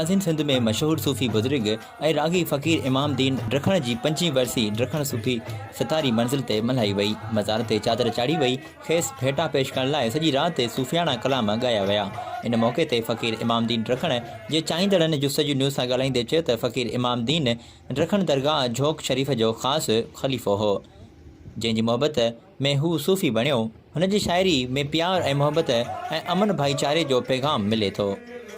ناظم سنڌ ۾ مشهور صوفي بزرگ ۽ راڳي فقير امام دين ڊکڻ جي پنجين ورسي ڊکڻ صوفي ستاري منزل تي ملهائي وئي، مزار تي چادر چاڙهي وئي، کيس ڀيٽا پيش ڪرڻ لاء سڄي رات صوفياڻا ڪلام ڳايا ويا. ان موقعي تي فقير امام دين ڊکڻ جي چاهيندڙن جستجو نيوز سان ڳالهائيندي چيو ته فقير امام دين رکڻ درگاهه جھوڪ شريف جو خاص خليفو هو، جنهن جي محبت ۾ هو صوفي بڻيو. هن جي شاعري ۾ پيار ۽ محبت ۽ امن ڀائيچاري جو پيغام ملي ٿو.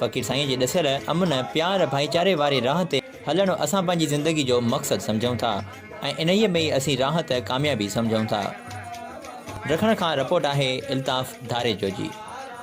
فقير سائينء جي ڏسيل امن، پيار، ڀائيچاري واري راهه تي هلڻ اسان پنهنجي زندگي جو مقصد سمجهون ٿا ۽ انهيء ۾ ئي اسين راحت، ڪاميابي سمجهون ٿا. رکڻ کان رپورٽ آهي الطاف ڌاريجو جي.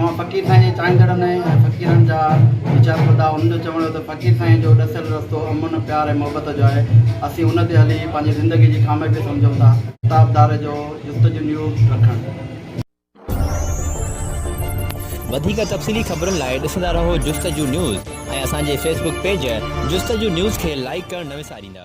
اوهان فقير سائين جي چاهيندڙ نه ۽ فقيرن جا ويچار ٻڌا، انهن جو چوڻ هو ته فقير سائين جو ڏسيل رستو امن، پيار ۽ محبت جو آهي، اسين ان تي هلي پنهنجي زندگي جي ڪاميابي سمجهون ٿا. ڪتابدار جو جستجو نيو رکڻ. وڌيڪ تفصيلي خبرن لاء ڏسندا رهو جستجو نيوز ۽ اسان جي Facebook page Justuju news کي لائيڪ ڪرڻ نه وساريندا.